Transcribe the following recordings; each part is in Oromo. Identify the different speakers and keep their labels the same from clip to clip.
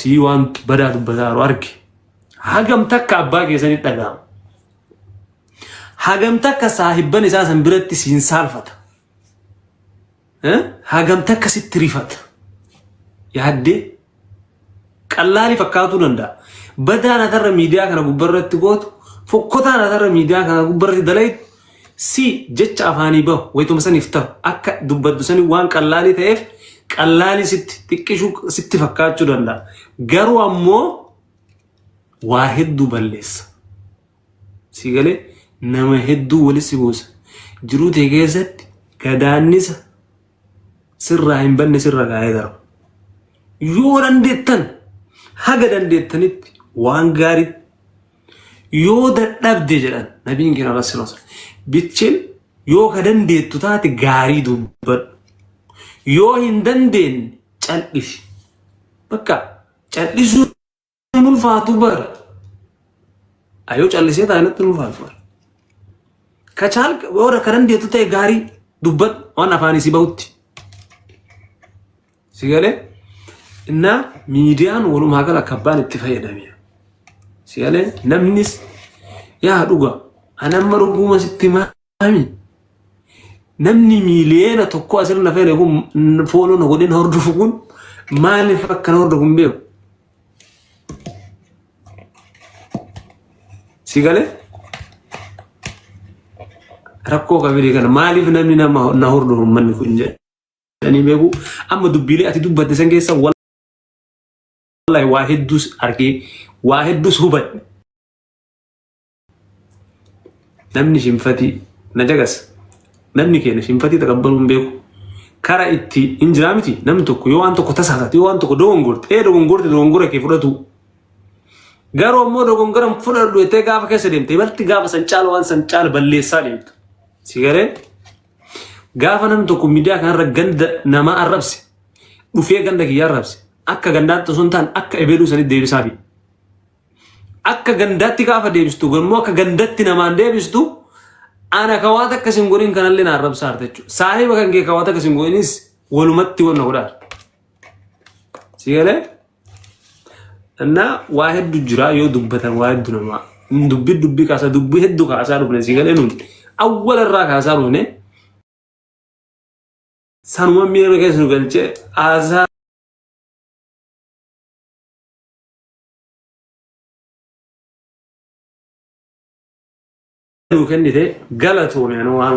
Speaker 1: sii waan badaa dubbataaru arge hagam takka abbaa keessanii dhagaama hagam takka saahibban isaa san biratti siin saalfata Eh? hagam takka sitti rifata yaaddee qallaalii fakkaatuu danda'a. Badaan atarra miidiyaa kana gubbarratti gootu, fokkotaan atarra miidiyaa kana gubbarratti dalaytu C. Jecha afaanii bahu wayituma saniif tahu akka dubbaddu sanii waan qallaalii ta'eef qallaalii sitti xiqqishuu sitti fakkaachuu danda'a. Garuu ammoo waa hedduu balleessa. Si galee nama hedduu walitti si buusa. Jiruu tee keessatti gadaannisa sirraa hin banne sirra gaa'ee darba. Yoo dandeettan haga dandeettanitti waan gaariitti Yoo dadhabde jedhan nabiin keenya irra sirra sirra. Bitchin yoo ka dandeettu taate gaarii dubbadhu. Yoo hin dandeenye cal'isi. Bakka cal'isuun hin ulfaatu bara. Ayoo cal'isee taa'inatti hin ulfaatu bara. Ka caal warra ka dandeettu ta'e gaarii dubbadhu waan afaan isii bahutti. Si galee? Innaa miidiyaan walumaa gala akka abbaan itti fayyadamee. Si galee? Namnis yaa dhuga ani amma dhuguma sitti himaami. Namni miiliyoona tokko asirra fayyade kun fooloo na godhin hordofu kun maaliif akka na hordofu hin beeku. Si galee? Rakkoo kamilee kana maaliif namni nama na hordofu manni kun jedhe. Ani beeku amma dubbiilee ati dubbatte san keessa wallahi waa hedduus argee waa hedduus hubadhe. Namni shinfatii na dagas namni keenya shinfatii taqabbaluu hin beeku. Kara itti hin jiraa miti namni tokko yoo waan tokko tasaasate yoo waan tokko dogongorte ee dogongorte dogongora kee fudhatu. Garuu ammoo dogongora hin fudhadhu jettee gaafa keessa deemte ibalti gaafa san caala waan san caala balleessaa deemta. Sigaree Gaafa namni tokko miidiyaa kanarra ganda namaa arrabse dhufee ganda kiyya arrabse akka gandaatti osoo hin taane akka ebeeluu sanitti deebisaafi. Akka gandaatti gaafa deebistu garuu akka gandatti namaan deebistu ana kawaata akka isin godhin kanallee na arrabsaa harta jechuudha. Saahiba kan kee kawaata akka isin godhinis walumatti wanna godhaa. Sigalee? እና waa heddu jira yoo dubbatan waa heddu namaa dubbi dubbi kaasa dubbi heddu kaasaa dhufne si galee nuun awwala irraa kaasaa dhufne sanuma miira keessa nu galche haasaa nu kennite galatoome waan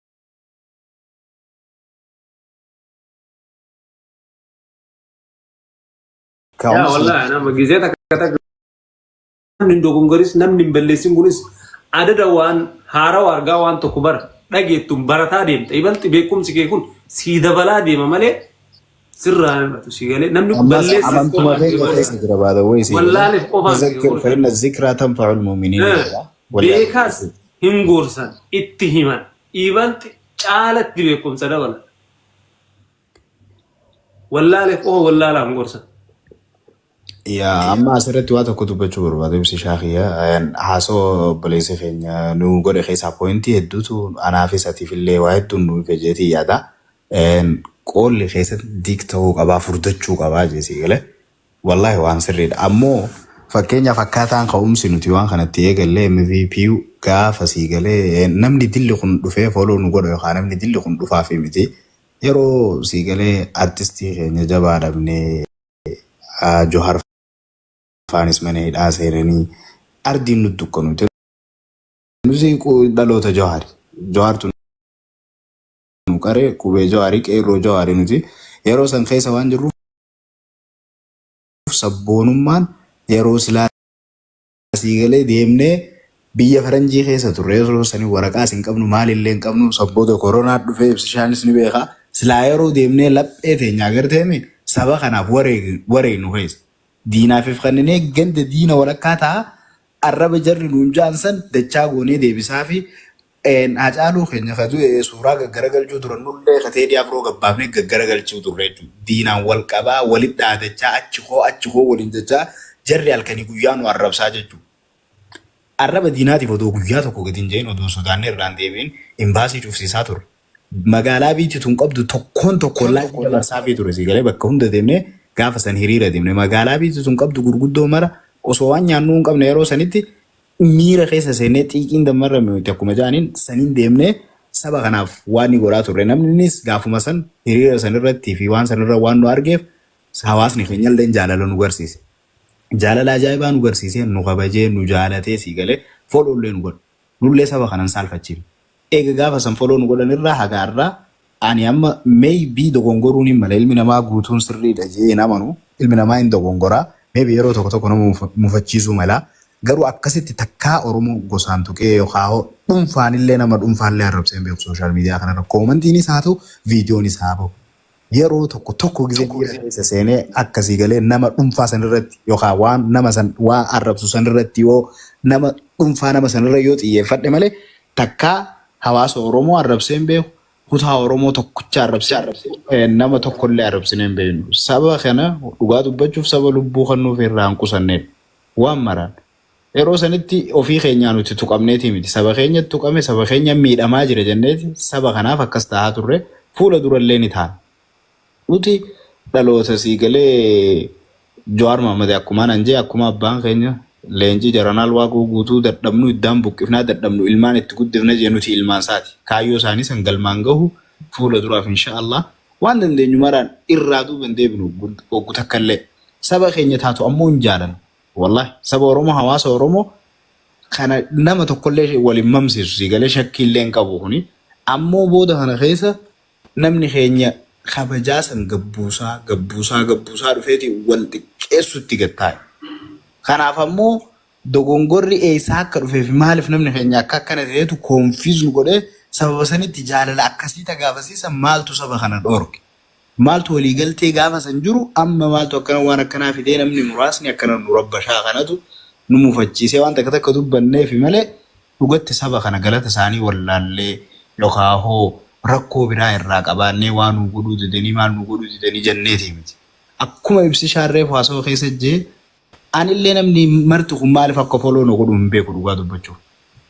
Speaker 1: Yaa wallahi nama gizee takka takka namni hin dogongoris namni hin balleessin kunis adada waan haarawa argaa waan tokko bara dhageettuun barataa deemta ibalti beekumsi kee kun sii dabalaa deema malee sirraa hir'atu si galee namni kun ammas balleesseef amantuma qofa keenya deemaa keessa jira baada wayii si galee wallaaleef qofa miti tazakkir goota fa'inna
Speaker 2: zikraa tanfa'ul mu'miniin Eh, jedha wallahi beekaas
Speaker 1: hin gorsan itti himan iibalt caalatti beekumsa dabala wallaaleef qofa wallaalaan gorsan
Speaker 2: yaa amma asirratti waa tokko dubbachuu barbaada ibsi shaakiyya haasoo obboleessi keenya nu godhe keessaa poointii hedduutu anaafis atiif illee waa hedduun nu ife jeetii yaada Een, qoolli keessan diik ta'uu qabaa furdachuu qabaa jee sii galee wallaahi waan sirriidha ammoo fakkeenyaaf akkaataan ka'umsi nuti waan kanatti eegallee MVP gaafa sii galee een, namni dilli kun dhufee foloo nu godha yookaan namni dilli kun dhufaa fi miti yeroo sii galee artistii keenya jabaa dhabnee ah, Johar faanis mana hidhaa seenanii ardiin nu dukkanuute nuti qu- dhaloota Johar Johartu nu qare qubee jawaarii qeerroo jawaarii nuti yeroo san keessa waan jirruuf sabboonummaan yeroo silaa asii galee deemnee biyya faranjii keessa turre yeroo sanii waraqaas hin qabnu maalillee hin qabnu sabbooda koronaa dhufee ibsishaanis ni beekaa silaa yeroo deemnee laphee teenya agarteemi saba kanaaf wareegnu keessa diinaafif kanninee ganda diina walakkaa ta'a arraba jarri nuun ja'an san dachaa goonee deebisaa fi Een Haacaaluu keenya ka du'e suuraa gaggaragalchuu turan nullee ka Teedii Afroo gabbaafnee gaggaragalchuu turre jechuudha. Diinaan wal qabaa, walitti dhaadachaa, achi koo, achi koo waliin jechaa jarri halkanii guyyaa nu arrabsaa jechuudha. Arraba diinaatiif odoo guyyaa tokko gadi hin je'in, odoo hin sodaannee irraa hin deebi'in imbaasii cufsiisaa turre. magaalaa biitti tun qabdu tokkoon tokkoon laayifii dabarsaafii ture sii galee bakka hunda deemnee gaafa san hiriira deemne magaalaa biitti tun qabdu gurguddoo mara osoo waan nyaannuu hin qabne yeroo sanitti miira keessa seennee xiiqiin dammarra nuti akkuma ja'aniin saniin deemnee saba kanaaf waan ni godhaa turre namnis gaafuma san hiriira san irratti fi waan san irra waan nu argeef hawaasni keenya illee jaalala nu garsiise. Jaalala ajaa'ibaa nu garsiisee nu kabajee nu jaalatee sii galee foolollee nu godhe. Nullee saba kana hin saalfachiifnu. Eega gaafa san follow nu godhan irraa haga har'aa ani amma may be dogongoruu ni mala ilmi namaa guutuun sirrii dha jedhee hin amanu ilmi namaa hin dogongora may be yeroo tokko tokko nama mufachiisuu mala garuu akkasitti takkaa oromoo gosaan tuqee yookaa dhunfaan illee nama dhunfaa illee arrabsee hin beeku social media kana irra comment niis haa ta'u video niis haa bahu Yeroo tokko tokko gizee miira keessa seenee akka sii galee nama dhunfaa san irratti yookaan waan nama san waa arrabsu san irratti yoo nama dhunfaa nama san irra yoo xiyyeeffadhe malee takkaa hawaasa Oromoo arrabsee hin beeku kutaa Oromoo tokkicha arrabsee hin beeku nama tokko illee arrabsinee hin beeknu saba kana dhugaa dubbachuuf saba lubbuu kan nuuf irraa hin qusanneedha waan maraan Yeroo sanitti ofii keenyaa nuti tuqamneetii miti. Saba keenyatu tuqame, saba keenya miidhamaa jira jenneeti saba kanaaf akkas tahaa turre, fuula durallee ni taana. Nuti dhaloota sii galee Jawaar Mahaammadi akkumaa nan jee akkuma abbaan keenya leencii jaranaal Waaqoo Guutuu dadhabnu iddaan buqqifnaa dadhabnu ilmaan itti guddifna jee nuti ilmaan saati. Kaayyoo saanii san galmaan gahu fuula duraaf insha Allah waan dandeenyu maraan irraa duuba hin deebinu oggu takkallee. Saba keenya taatu ammoo hin jaalanu. Wallahi saba Oromoo hawaasa Oromoo kana nama tokkollee wal hin mamsiisu sii galee shakkii illee hin qabu kuni. Ammoo booda kana keessa namni keenya kabajaa san gabbuusaa gabbuusaa gabbuusaa dhufeeti wal xiqqeessutti gad taa'e. Kanaaf ammoo dogongorri eessaa akka dhufee fi maaliif namni keenya akka akkana ta'eetu confuse nu godhee sababa sanitti jaalala akkasii ta gaafasiisan maaltu saba kana dhoorge? Maaltu walii galtee gaafa san jiru amma maaltu akkana waan akkanaa fidee namni muraasni akkana nu rabbashaa kanatu nu mufachiisee waan takka takka dubbanneefi malee dhugatti saba kana galata isaanii wallaallee yookaa hoo rakkoo biraa irraa qabaannee waa nuu godhuu didanii maal nuu godhuu didanii janneetii miti akkuma ibsishaan reefu haasawa keessa jee Anillee namni marti kun maaliif akka follow na godhu hin beeku dhugaa dubbachuuf.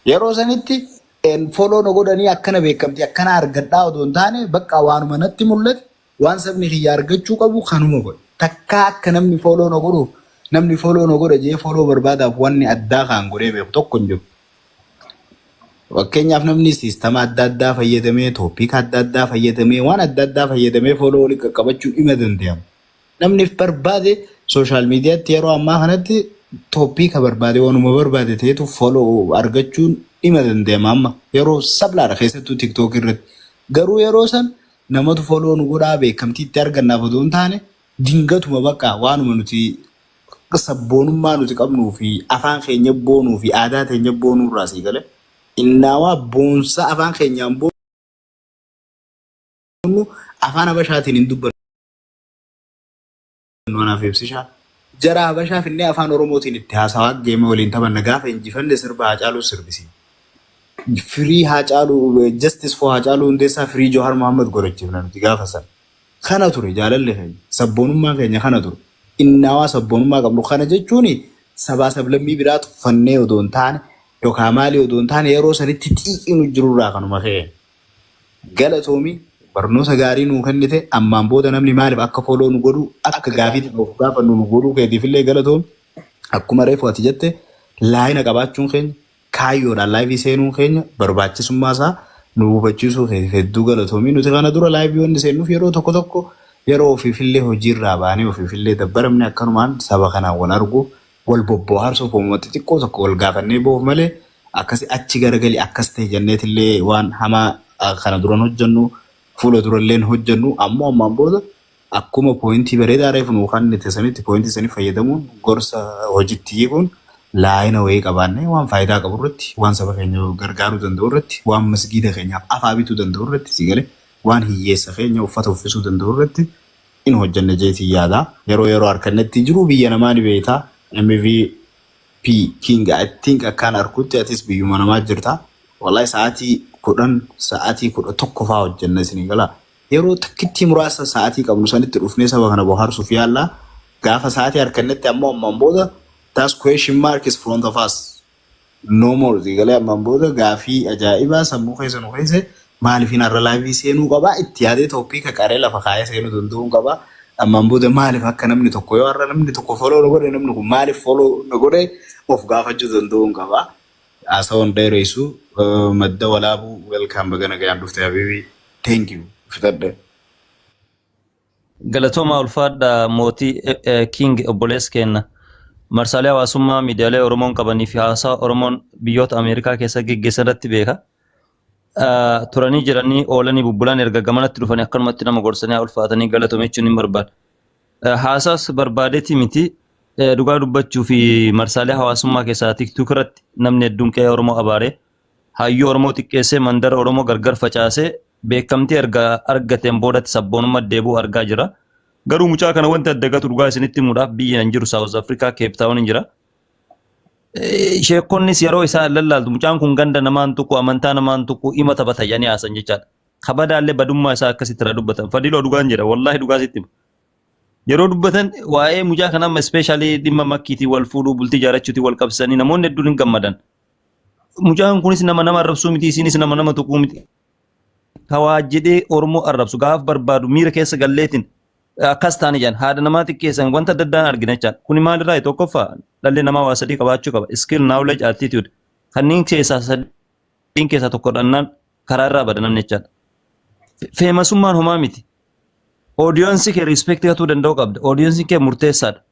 Speaker 2: Yeroo sanitti en, follow na godhanii akkana beekamtii akkana argadhaa odoo hin taane bakka waanuma natti mul'ate waan sabni kiyya argachuu qabu kanuma godhe. Takkaa akka namni follow na godhuuf namni follow na godha jedhee follow barbaadaaf wanni addaa kaan godhee beeku tokko hin jiru. Fakkeenyaaf namni siistama adda addaa fayyadamee, topic adda addaa fayyadamee, waan adda addaa fayyadamee follow walitti qaqqabachuun ima dandayama. Namni if barbaade sooshaal miidiyaatti yeroo ammaa kanatti toppiika barbaade waanuma barbaade ta'etu foloo argachuun dhima danda'ama amma yeroo sablaadha keessattuu tiktook irratti garuu yeroo san namatu foloo nu godhaa beekamtii itti argannaaf odoo hin taane dingatuma bakka waanuma nuti sabboonummaa nuti qabnuu fi afaan keenya boonuu fi aadaa teenya boonuu irraa sii gale innaawaa boonsa afaan keenyaan boonu afaan habashaatiin hin dubbannu. Nuunaaf ibsisha. Jara Habashaa finnee afaan Oromootiin itti haasawaa geema waliin taphanna gaafa injifanne sirba Haacaaluu sirbisiin. Firii Haacaaluu Justice for Haacaaluu Hundeessaa Firii Johar Muhammad godhachiifna nuti gaafa san. Kana ture jaalalli keenya sabboonummaan keenya kana ture. Innaawaa sabboonummaa qabnu kana jechuun sabaa sablammii biraa tuffannee odoo hin taane yookaan maalii odoo hin taane yeroo sanitti xiiqiinu jirurraa kanuma ka'e. Galatoomi barnoota gaarii nuu kennite ammaan booda namni maaliif akka follow nu godhu akka gaafiitti of gaafannu nu godhuu keetiif illee galatoomi akkuma reefu ati jette laayina qabaachuun keenya kaayyoodhaan laayivii seenuun keenya barbaachisummaa isaa nu hubachiisuu keetiif hedduu galatoomi nuti kana dura laayivii wanni seennuuf yeroo tokko tokko yeroo ofiif illee hojiirraa baanee ofiif illee dabbaramne akkanumaan saba kanaan wal arguuf Wal bobbohaarsuuf uumama xixiqqoo tokko wal gaafannee boof malee akkasi achi garagali akkas tahi jenneetillee waan hamaa kana duran hojjennu fuula durallee hin hojjennu ammoo ammaan booda akkuma pooyintii bareedaa reefu nuu kannite sanitti pooyintii sanii fayyadamuun gorsa hojitti hiikuun laayina wayii qabaannee waan faayidaa qabu irratti waan saba keenya gargaaruu danda'u irratti waan masgiida keenyaaf afaa bituu danda'u irratti si galee waan hiyyeessa keenya uffata uffisuu danda'u irratti hin hojjanne jeetiin yaada yeroo yeroo arkannetti jiruu biyya namaa ni beeyta MVP king I think akkaan arkutti atis biyyuma namaa jirta wly sa'atii 10 sa'atii 11 faa hojjanna isinii gala yeroo takkittii muraasa sa'atii qabnu sanitti dhufnee saba kana bohaarsuuf yaalla gaafa sa'atii arkannetti ammoo ammaan booda that's question mark is front of us No more sii galee ammaan booda gaafii ajaa'ibaa sammuu keessa nu keesse maalifiin har'a laayivii seenuu qabaa itti yaadee tooppiika qaree lafa kaayee seenuu danda'uun qabaa ammaan booda maalif akka namni tokko yoo har'a namni tokko foloo na godhe namni kun maalif foloo na godhe of gaafachuu danda'uun qabaa haasawan dheereessu eh, madda walaabuu welkaam baga nagayaan dhufte habiibii thank you fixadhe.
Speaker 3: Galatoomaa ulfaadha mootii King obboleessa keenna. Marsaalee hawaasummaa miidiyaalee Oromoon qabanii fi haasaa Oromoon biyyoota Ameerikaa keessa geggeessan irratti beeka. Turanii jiranii oolanii bubbulan erga gamanatti dhufanii akkanumatti nama gorsanii haa ulfaatanii galatoomi jechuun hin barbaada. Haasaas barbaadeeti miti dhugaa dubbachuu fi marsaalee hawaasummaa keessaa tiktuuk irratti namni hedduun qe'ee Oromoo abaaree Hayyuu Oromoo xiqqeessee mandara Oromoo gargar facaasee beekamtii erga argateen boodatti sabboonummaa deebi'u argaa jira. Garuu mucaa kana wanti adda gatu dhugaa isinitti himuudhaaf biyya hin jiru Saawuz Afrikaa Keep Taawun hin jira. Sheekonnis yeroo isaa lallaaltu mucaan kun ganda namaan tuqu amantaa namaan tuqu ima taphata jedhanii haasan jechaadha. Kabadaallee badummaa isaa akkasitti irraa dubbatan. Fadiloo dhugaan jedha wallaahi dhugaa sitti hima. Yeroo dubbatan waa'ee mucaa kana amma ispeeshaalii dhimma makkiitii wal fuudhuu bultii jaarachuutii wal qabsiisanii namoonni hedduun hin gammadan. Mucaan kunis nama nama arrabsuu miti isinis nama nama tuquu miti. Kawaa jedhee Oromoo arrabsu gaaf barbaadu miira keessa galleetiin akkas taane jedhan haadha namaa xiqqeessan wanta adda addaan argina jechaadha. Kuni maalirraa tokkoffaa dhalli namaa waa sadii qabaachuu qaba. Skill, knowledge, attitude. Kanneen keessaa sadiin keessaa tokko dhannaan karaa irraa bada namni jechaadha. Feemasummaan homaa miti. Oodiyoonsii kee riispeektii hatuu danda'uu qabda. Oodiyoonsii kee murteessaadha.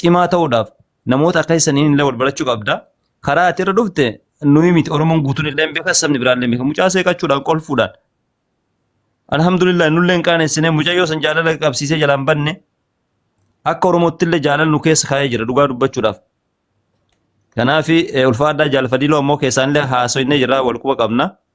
Speaker 3: cimaa ta'uudhaaf namoota akka isaniin illee wal barachuu qabda. Karaa ati irra dhufte nuyi miti Oromoon guutuun illee hin beekan sabni biraan illee hin beekan. Mucaa seeqachuudhaan kolfuudhaan. Alhamdulillah nullee hin qaanessinee mucayyoo san jaalala qabsiisee jalaan banne akka Oromootti illee jaalala nu keessa kaa'ee jira dhugaa dubbachuudhaaf. Kanaaf ulfaadhaa jaalfadiloo ammoo keessaan illee haasoinee jira wal quba qabna.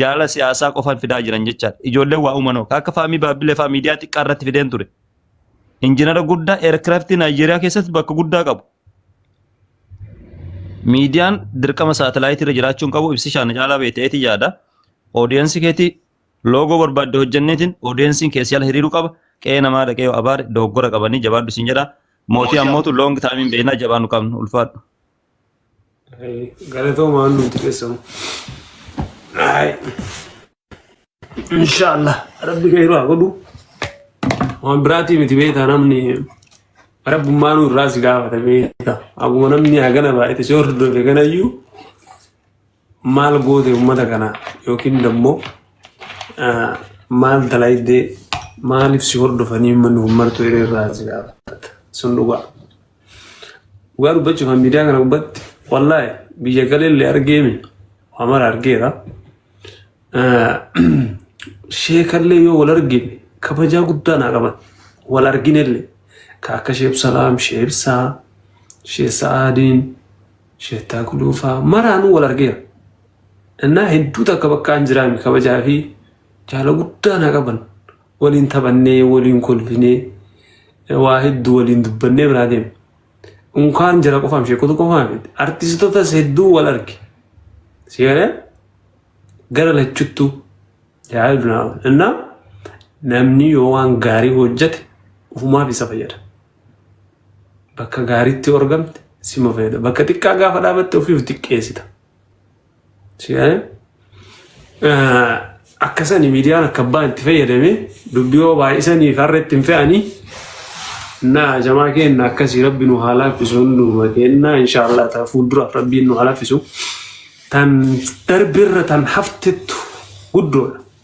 Speaker 3: Jaalala siyaasaa qofan fidaa jiran jechaadha. Ijoolleen waa uuman hoo? Ka akka Faamii Baabbilee fa'aa miidiyaa xiqqaa irratti fideen ture. Injinara guddaa eerkiraftii Naayijeeriyaa keessatti bakka guddaa qabu. Miidiyaan dirqama saatalaayitii irra jiraachuun qabu ibsi shaana caalaa beeteeti yaada. Oodiyensii keetii loogoo barbaadde hojjenneetiin oodiyensiin keessi ala hiriiruu qaba. Qe'ee namaa dhaqee yoo abaare dogoggora qabanii jabaadhu siin jedha. Mootii ammootu loong taayimiin beeknaa jabaannu qabnu ulfaadhu.
Speaker 1: Galatoomaa waan nuti keessamu. Inshaallah rabbi keeru haa godhu. Waan biraatii miti beektaa namni rabbummaa nu irraa si gaafata beektaa. Akkuma namni hagana baay'ate si hordofe ganayyuu. maal goote ummata kana yookiin dammo maal dalaydee maaliif si hordofanii ummanni kun martuu hiree irraa si gaafata sun dhugaa dhugaa dubbachuuf kan miidiyaa kana gubbatti wallaahi biyya galeellee argeemi waa mara argeera sheekallee yoo wal argine kabajaa guddaa naa qaban wal arginellee ka akka sheeb salaam sheeb saa shee sa'aadiin Sheettaa Guluufaa maraanuu wal argeera. Innaa hedduu takka bakka an jiraame kabajaa fi jaala guddaa na qaban. Waliin taphannee, waliin kolfinee, waa hedduu waliin dubbannee biraa deema. Unkaan jira qofaam sheekota qofaam miti. Artistotas hedduu wal arge. Seera gara lachuttu yaa dunaa. Innaa namni yoo waan gaarii hojjete ufumaaf isa fayyada. Bakka gaariitti yoo argamte sima fayyada. Bakka xiqqaa gaafa dhaabatte ofii of xiqqeessita. Si'aa'e akkasani miidiyaan akka abbaan itti fayyadame dubbii yoo baay'isanii fi har'a itti hin fe'anii na jamaa keenna akkasii rabbi nu haa laaffisu hunduma keenna inshaallah ta'a fuulduraaf rabbiin nu haa laaffisu. Tan darbe irra tan haftettu guddoodha.